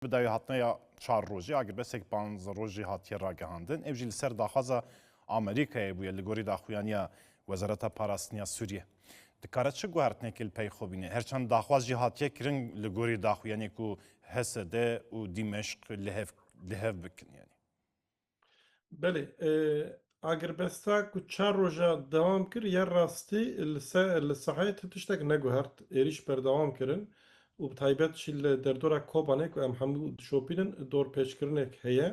Bi dawehatneya çar rojî agirbesek panz rojî hatiye ragihandin. Ev jî li ser daxwaza Amerîkayê bûye li gorî daxuyaniya Wezareta Parastiniya Sûriyê. Dikare çi guhertinekê li pey xwe bîne? Her çend daxwaz jî hatiye kirin li gorî daxuyaniyê ku HSD û Dîmeşq li hev li hev bikin yanî. Belê, agirbesta ku çar roja dewam kir ya rastî li saheyê tu tiştek neguhert, êrîş berdewam kirin û bi taybet jî li derdora Kobanê ku em hemû dişopînin dorpêçkirinek heye.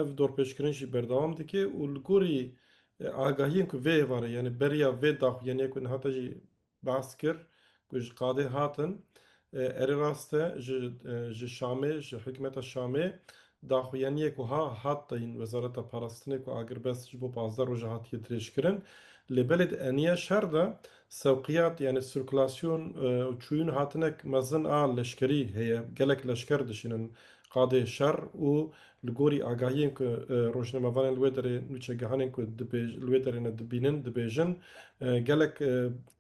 Ev dorpêçkirin jî berdewam dike û li gorî agahiyên ku vê êvarê yanî beriya vê daxuyaniyê ku niha te jî Behs kir ku ji qadê hatin. Erê rast e ji Şamê, ji hikûmeta Şamê daxuyaniyek wiha hat dayîn Wezareta Parastinê ku agirbest ji bo pazdeh roj e hatiye dirêjkirin. Lê belê di eniya şer de sewqiyat yanî sirkulasyon û çûyîn hatinek mezin a leşkerî heye. Gelek leşker dişînin Qadê şer û li gorî agahiyên ku rojnamevanên li wê derê, nûçegihanên ku li wê derê ne dibînin, dibêjin, gelek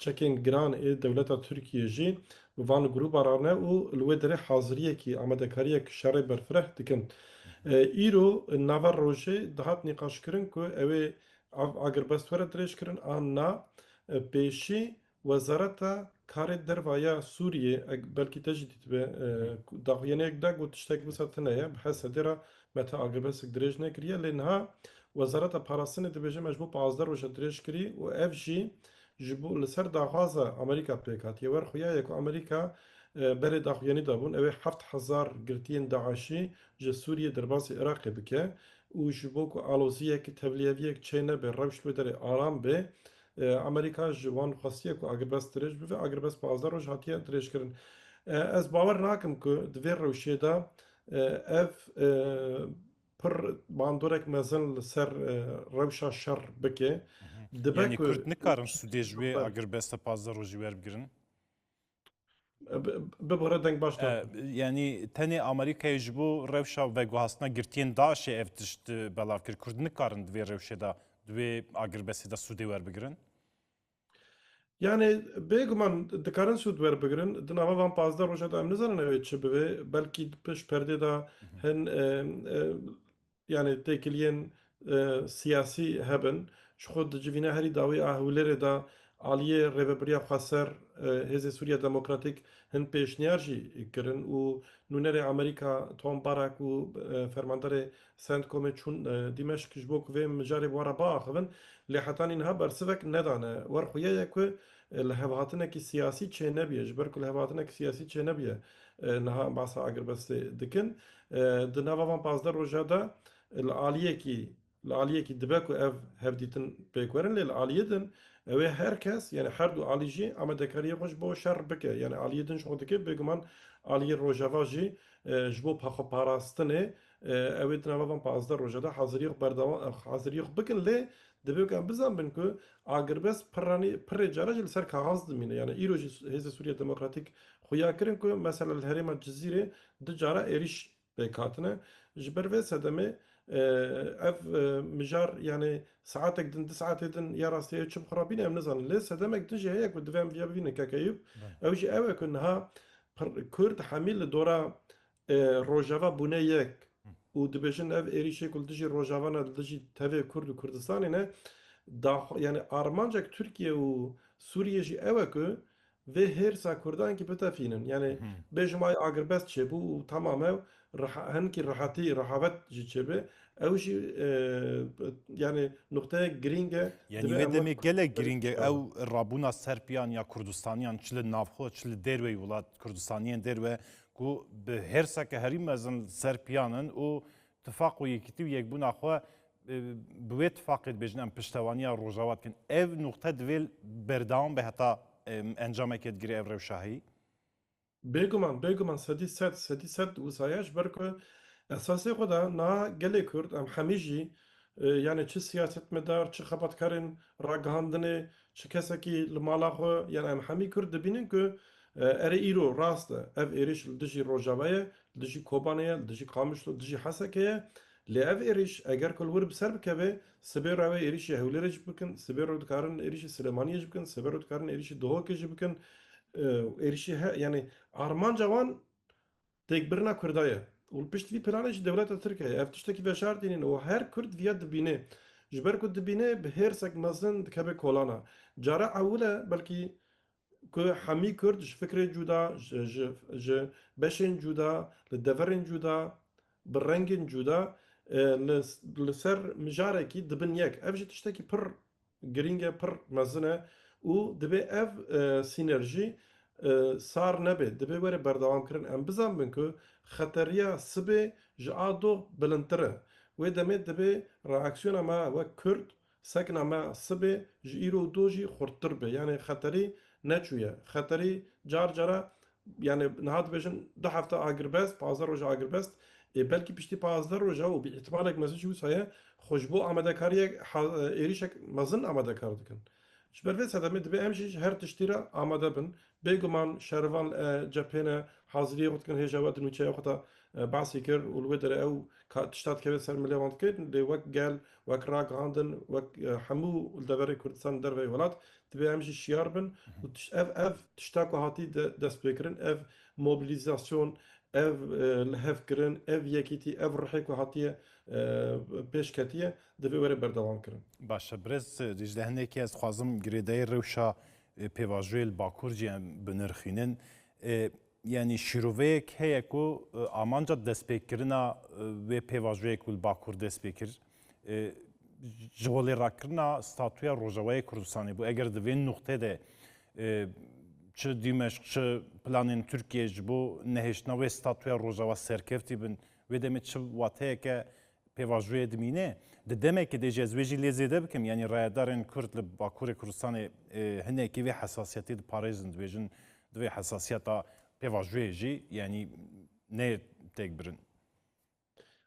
çekên giran ê dewleta Tirkiyê jî bi van grûba re ne û li wê derê haziriyekî, amadekariyek şerê berfireh dikin. Îro nava rojê dihat nîqaşkirin ku ewê ev agirbest were dirêjkirin an na, pêşî Wezareta Karê Derve ya Sûriyê eg belkî te jî dîtibe daxuyaniyek da got tiştek wisa tune ye bi Hesedê re me te agebesik dirêj nekiriye lê niha Wezareta Parastinê dibêje me ji bo pazdeh roje dirêj kirî û ev jî ji bo li ser daxwaza Amerîka pêk hatiye. Wer xuyaye ku Amerîka berê daxuyanî dabûn ew ê heft hezar girtiyên DAIŞ'î ji Sûriyê derbasî Iraqê bike û ji bo ku aloziyek tevliyeviyek çênebe rewş li wê derê aram bê Amerîka ji wan xwestiye ku agirvest dirêj bibe, agirvest pazdeh roj hatiye dirêjkirin. Ez bawer nakim ku di vê rewşê de ev pir bandorek mezin li ser rewşa şer bike. Dibe ku Kurd nikarin sûdê ji wê agirvesta pazdeh rojî werbigirin? Bibare deng baş da. Yanî tenê Amerîkayê ji bo rewşa veguhastina girtiyên DAIŞ'ê ev tişt belav kir. Kurd nikarin di vê rewşê de di wê agirbestê de sûdê werbigirin? Yanê bêguman dikarin sûd werbigirin. Di nava van pazdeh roja de em nizanin ew ê çi bibe. Belkî di pişt perdê de hin yanê têkiliyên siyasî hebin ji xwe dicivîne herî dawî a Hewlêrê de aliyê Rêvebiriya Xweser Hêzê Sûriya Demokratîk hin pêşniyar jî kirin û nûnerê Amerîka Tom Barak û fermanderê Centcomê çûn Dîmeşq ji bo ku vê mijarê bi we re biaxivin lê heta nîniha bersivek nedane. Werxwe ye ye ku Li hevhatinekî siyasî çênebûye, ji ber ku li hevhatinekî siyasî çênebûye niha em basa agirbestê dikin. Di nava van pazdeh roja de li aliyekî li aliyekî dibe ku ev hevdîtin pêk werin lê li aliyê din ew ê her kes yanî her du alî jî amadekariyê xwe ji bo şer bike yanî aliyê din ji xwe dike bêguman aliyê rojava jî ji bo xweparastinê Ew ê di nava van pazdeh roja de hazirîya xwe berdewam hazirîya xwe bikin lê divê weke em bizanbin ku agirbest pirranî pirrê caran jî li ser kaxaz dimîne. Yanî îro jî Hêzên Sûriya Demokratîk xuya kirin ku mesela li herêma Cizîrê du cara êrîş pêk hatine. Ji ber vê sedemê ev mijar yanî saetek din du saetê din ya rastî ya çi bi xwe re bîne em nizanin. Lê sedemek din jî heye ku divê em vêya bibînin Keke Eyûb ew jî ew e ku niha Kurd hemî li dora Rojava bûne yek û dibêjin ev êrîşê ku li dijî Rojava ne li dijî tevê Kurd û Kurdistanê ne daxwa yanî armancek Tirkiye û Sûriyê jî ew e ku vê hêrsa Kurdan kî bitefînin. Yanî bêjim ay agirbest çêbû û tamam ew hinkî rehetî rehavet jî çêbe ew jî yanî nuqteyek girîng e. Yanî wê demê gelek girîng e ew rabûna Serpiyan ya Kurdistaniyan çi li nav xwe çi li dêrweyî welat Kurdistaniyên dêrwe ku bi hêrseke herî mezin li ser piyan in û tifaq û yekîtî û yekbûna xwe bi wê tifaqê dibêjin em piştewaniya Rojava dikin. Ev nuqte divê berdewam be heta encamekê digire ev rewşa heyî? Bêguman, bêguman sedî sed, sedî sed wisa ye ji ber ku esasê xwe de niha gelê Kurd em hemî jî yanê çi siyasetmedar, çi xebatkarên ragihandinê, Çi kesekî li mala xwe yan em hemî Kurd dibînin ku erê îro rast e ev êrîş li dijî Rojava ye, li dijî Kobanê ye, li dijî Qamişlo, li dijî Hesekê ye. Lê ev êrîş eger ku li wir bi ser bikeve, sibê re ew êrîşê Hewlêrê jî bikin, sibê re dikarin êrîşê Silêmaniyê jî bikin, sibê re dikarin êrîşê Duhokê jî bikin. Êrîşê he yanî armanca wan Têkbirina Kurda ye û li pişt vî planê jî dewleta Tirk heye. Ev tiştekî veşar tînin û her Kurd viya dibînê. Ji ber ku dibînê bi hêrsek mezin dikeve kolana. Cara ewil e belkî ku hemî Kurd ji fikrê cuda, ji beşên cuda, li deverên cuda, bi rengên cuda li ser mijarekî dibin yek. Ev jî tiştekî pir Girîng e, pir mezin e û divê ev sînerjî sar nebe, divê were berdewamkirin. Em bizanbin ku xeteriya sibê ji a doh bilindtir e. Wê demê divê reaksiyona me wek Kurd, sekna me sibê ji îro û doh jî xurttir be. Yanê xeterî neçûye. Xeterî car cara Yanî niha dibêjin du hefte agirbest, pazdeh roj agirbest ê belkî piştî pazdeh rojan û bi îtîmalek mezin jî wisa ye xwe ji bo amadekariyek êrîşek mezin amadekar dikin. Ji ber vê sedemê divê em jî ji her tiştî re amade bin. Bêguman şerivan li cephêne haziriyê xwe dikin hêja we di nûçeya xwe de behsî kir û li wê derê ew ka tişta dikeve ser milê wan dike lê wek gel, wek ragihandin, wek hemû li deverê Kurdistanê li derveyî welat Divê em jî şiyar bin û ev ev tişta ku hatî destpêkirin, ev mobilîzasyon, ev lihevkirin, ev yekîtî, ev ruhê ku hatiye pêş ketiye divê were berdewamkirin. Baş e birêz Dîcle hinekî ez dixwazim girêdayî rewşa pêvajoyê li Bakur jî em binirxînin. Yanî şîroveyek heye ku amanca destpêkirina wê pêvajoyê ku li Bakur dest pê kir ji holêrakirina statuya Rojavayê Kurdistanê bû. Eger di vê nuqteyê de çi Dîmeşq çi planên Tirkiyeyê ji bo nehêştina wê statuya Rojava serkeftî bin, wê demê çi wateyeke Pêvajoyê dimîne, di demekê de jî ez wê jî lê zêde bikim, yanî rayedarên Kurd li Bakurê Kurdistanê hinekî vê hesasiyetê diparêzin, dibêjin di vê hesasiyeta pêvajoyê jî yanî neyê têkbirin.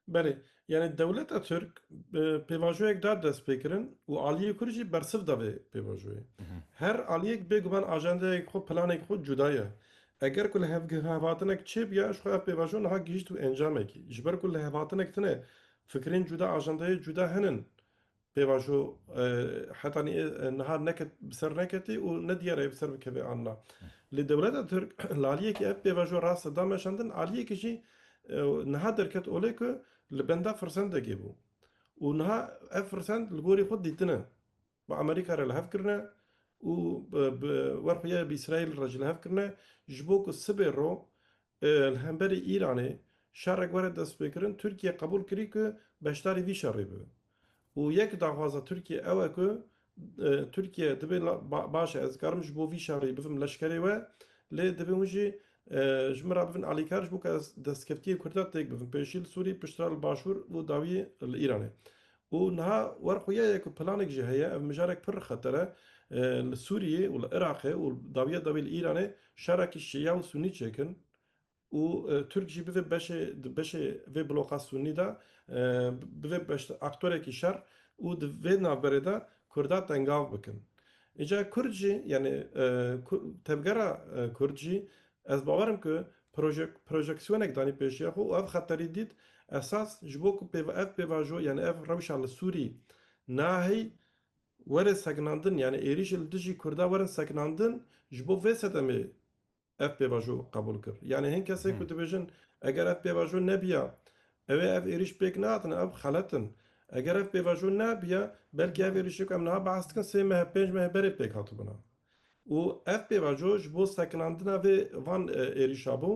Belê, yanî dewleta Tirk bi pêvajoyek da destpêkirin û aliyê Kurd jî bersiv da vê pêvajoyê. Her aliyek bêguman ajendayek xwe, planeke xwe cuda ye. Eger ku lihevhatinek çêbiya, ji xwe ev pêvajo niha gihîşt wê encamekî. Ji ber ku lihevhatinek tune, fikrên cuda, ajendayê cuda henin. Pêvajo heta niha neket bi ser neketê û ne diyar e bi ser bikeve an na. Lê dewleta Tirk li aliyekî ev pêvajo rast e da meşandin, aliyekî jî niha derket olê ku li benda firsendekê bû û niha ev firsend li gorî xwe dîtine. bi Amerîka re li hev kirine û bi wer xuya bi Îsraîl re jî li hev kirine ji bo ku sibê ro li hemberî Îranê şerek were destpêkirin, Tirkiye qebûl kirî ku beşdarî vî şerê bibe û yek daxwaza Tirkiye ew e ku Tirkiye dibê baş e ez dikarim ji bo vî şerî bivim leşkerê we lê dibê hûn jî ji min re bibin alîkar ji bo ku ez destkeftiyên Kurdan têk bivim pêşî li Sûrî piştre li başûr û dawî li Îranê Û niha wer xuya ye ku planek jî heye, ev mijarek pir xeter e, li Sûriyê û li Iraqê û dawiya dawî li Îranê şerakî şîa û sûnî çêkin û Tirk jî bibe beşê di beşê vê bloka sûnî de bibe beş aktorekî şer û di vê navberê de Kurda tengav bikin. Îca Kurd jî yanî tevgera Kurd jî Ez bawer im ku projeksyonek danî pêşiya xwe û ev xeterî dît esas ji bo ku ev pêvajo yanî ev rewşa li Sûrî nahê were sekinandin yanî êrîşê li dijî Kurda werin sekinandin ji bo vê sedemê ev pêvajo qebûl kir. Yanî hin kesên ku dibêjin eger ev pêvajo nebiya ewê ev êrîş pêk nahatine ew xelet in. Eger ev pêvajo nebiya belkî ev êrîşê ku em niha behs dikin sê meh pênc mehê berê pêk hatibûna. û ev pêvajo ji bo sekinandina vê van êrîşa bû.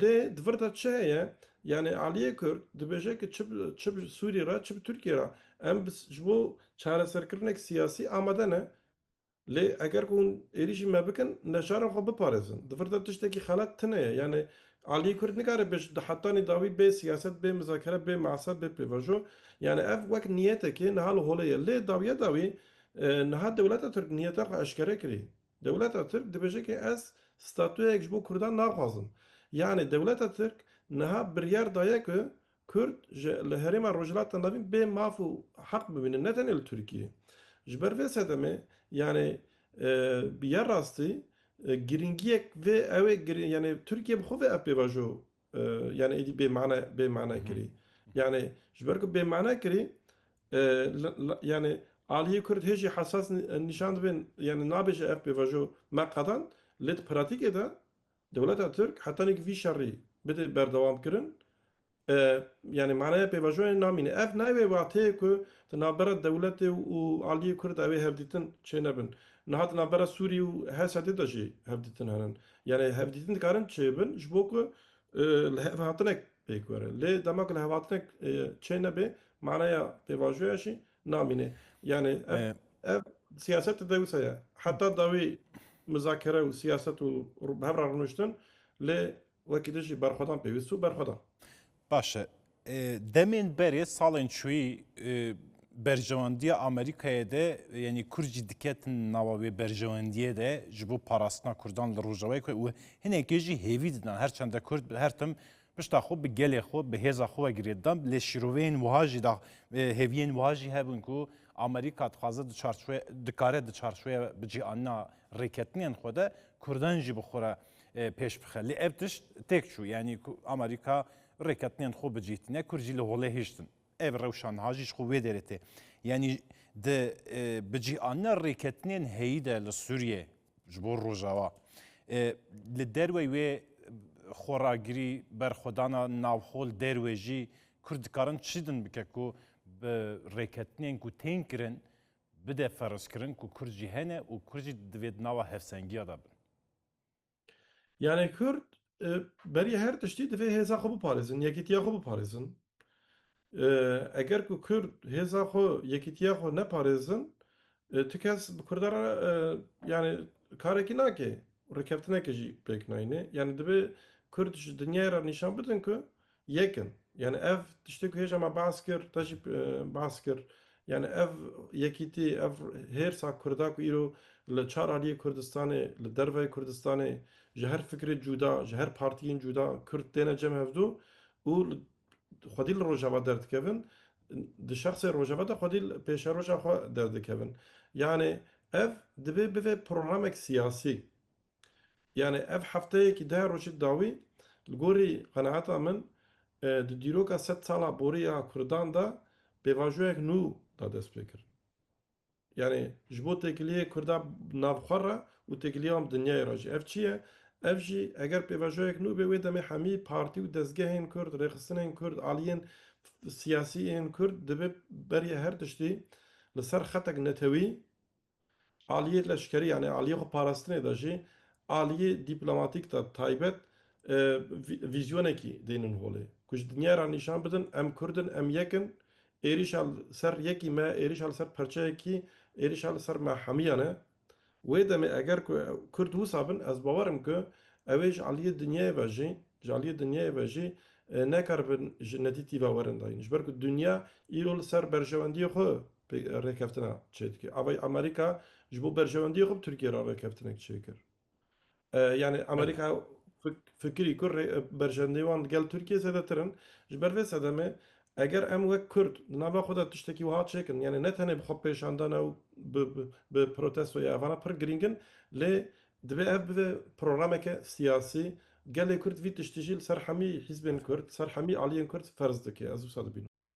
Lê di vir de çi heye? Yanî aliyê Kurd dibêje ku çi bi Sûrî re çi bi Tirkiyê re em ji bo çareserkirinek siyasî amade ne. Lê eger ku hûn êrîşî me bikin neçarin xwe biparêzin. Di vir de tiştekî xelat tune ye. Yanî aliyê Kurd nikare bê ji dahetanî dawî bê siyaset, bê mizakere, bê measet, bê pêvajo. Yanî ev wek niyetekê niha li holê ye. Lê dawiya dawî Niha dewleta Tirk niyeta xwe eşkere kirî. Dewleta Tirk dibêje ke ez statuyayek ji bo Kurdan naxwazim. Yanî dewleta Tirk niha biryar daye ku Kurd ji li herêma Rojhilata Navîn bê maf û heq bimînin ne tenê li Tirkiyê. Ji ber vê sedemê yanî bi ya rastî girîngiyek vê ewê yanî Tirkiye bi xwe ve ev pêvajo Yanî êdî bêmane bêmane kirî. Yanî ji ber ku bêmane kirî yanî aliyê Kurd hê jî hesas nîşan dibin yanî nabêje ev pêvajo me qedan lê di pratîkê de dewleta Tirk heta nîk vî şerî bidê berdewamkirin yanî maneya pêvajoyê namîne. Ev nayê wê wateyê ku di navbera dewletê û aliyê Kurd de wê hevdîtin çênebin. Niha di navbera Sûrî û HSD'ê de jî hevdîtin hene. Yanî hevdîtin dikarin çêbin ji bo ku lihevhatinek pêk were. Lê dema ku lihevhatinek çê nebe manaya pêvajoya jî namîne. Yanî ev siyaset di dewisa ye. Heta dawî mizakere û siyaset û bi hev re rûniştin lê wekî dijî berxwedan pêwîst û berxwedan. Baş e. Demên berê salên çûyî berjewendiya Amerîkayê de yanî Kurd jî diketin nava wê berjewendiyê de ji bo parastina Kurdan li Rojavayê ku û hinekê jî hêvî didan her çende Kurd bi her tim pişta xwe bi gelê xwe bi hêza xwe girê didan lê şîroveyên wiha jî da hêviyên wiha jî hebûn ku Amerîka dixwaze di çarçoye dikare di çarçoye bi cî anina rêketinên xwe de Kurdan jî bi xwe re pêş bixe. Lê ev tişt têk çû yanî ku Amerîka rêketinên xwe bicîh tîne, Kurd jî li holê hiştin. Ev rewşa niha jî ji xwe wê derê tê. Yanî di bicîhanina rêketinên heyî de li Sûriyê ji bo Rojava li derwey wê xweragirî berxwedana navxol derwê jî Kurd dikarin çi din bike ku bi rêketinên ku tên kirin bide ferzkirin ku Kurd jî hene û Kurd jî divê di nava hevsengiya de bin. Yanê Kurd berî her tiştî divê hêza xwe biparêzin, yekîtiya xwe biparêzin. Eger ku Kurd hêza xwe, yekîtiya xwe neparêzin, tu kes bi Kurdan re yanê karekî nake û rêkeftinekê jî pêk nayîne. Yanê divê Kurd ji dinyayê re nîşan bidin ku, Yekem, yanî ev tiştê ku hêja me behs kir, te jî behs kir, yanî ev yekîtî, ev hêrsa Kurda ku îro li çar aliyê Kurdistanê, li derveyê Kurdistanê ji her fikrê cuda, ji her partiyên cuda Kurd têne cem hevdu û xwedî li Rojava derdikevin, di şexsê Rojava de xwedî li pêşeroja xwe derdikevin. Yanî ev dibê bive programek siyasî. Yanî ev hefteyekî deh rojî dawî li gorî qenaeta min di dîroka sed sala borî ya kurdan de pêvajoyek nû da dest pê kir. Yanî ji bo têkiliyê kurda nav xwe re û têkiliya wan bi dinyayê re jî. Ev çi ye? Ev jî eger pêvajoyek nû bê wê demê hemî partî û dezgehên kurd, rêxistinên kurd, aliyên siyasî ên kurd dibe beriya her tiştî li ser xetek netewî, Aliyê leşkerî yanî aliyê xwe parastinê de jî aliyê dîplomatîk de taybet vîzyonekî dênin holê ku ji dinyayê re nîşan bidin em kurd in, em yek in, êrîşa li ser yekî me, êrîşa li ser perçeyekî, êrîşa li ser me hemiyan e. Wê demê eger ku kurd wisa bin ez bawer im ku ew ê ji aliyê dinyayê ve jî ji aliyê dinyayê ve jî nekaribin ji nedîtî ve werin dayîn. Ji ber ku dinya îro li ser berjewendiyê xwe rêkeftina çê dike. Avayî Amerîka ji bo berjewendiyê xwe bi Tirkiyê re rêkeftinek çê kir. Yanî Amerîka fikirî ku berjewendiyên wan digel Tirkiyê zêdetir in. Ji ber vê sedemê eger em wek Kurd di nava xwe de tiştekî wiha çê kin, yanî ne tenê bi xwepêşandana û bi protesto ya evana pir girîng in, lê divê ev bibe programeke siyasî. Gelê Kurd vî tiştî jî li ser hemî hîzbên Kurd, li ser hemî aliyên Kurd ferz dike. Ez wisa dibînim.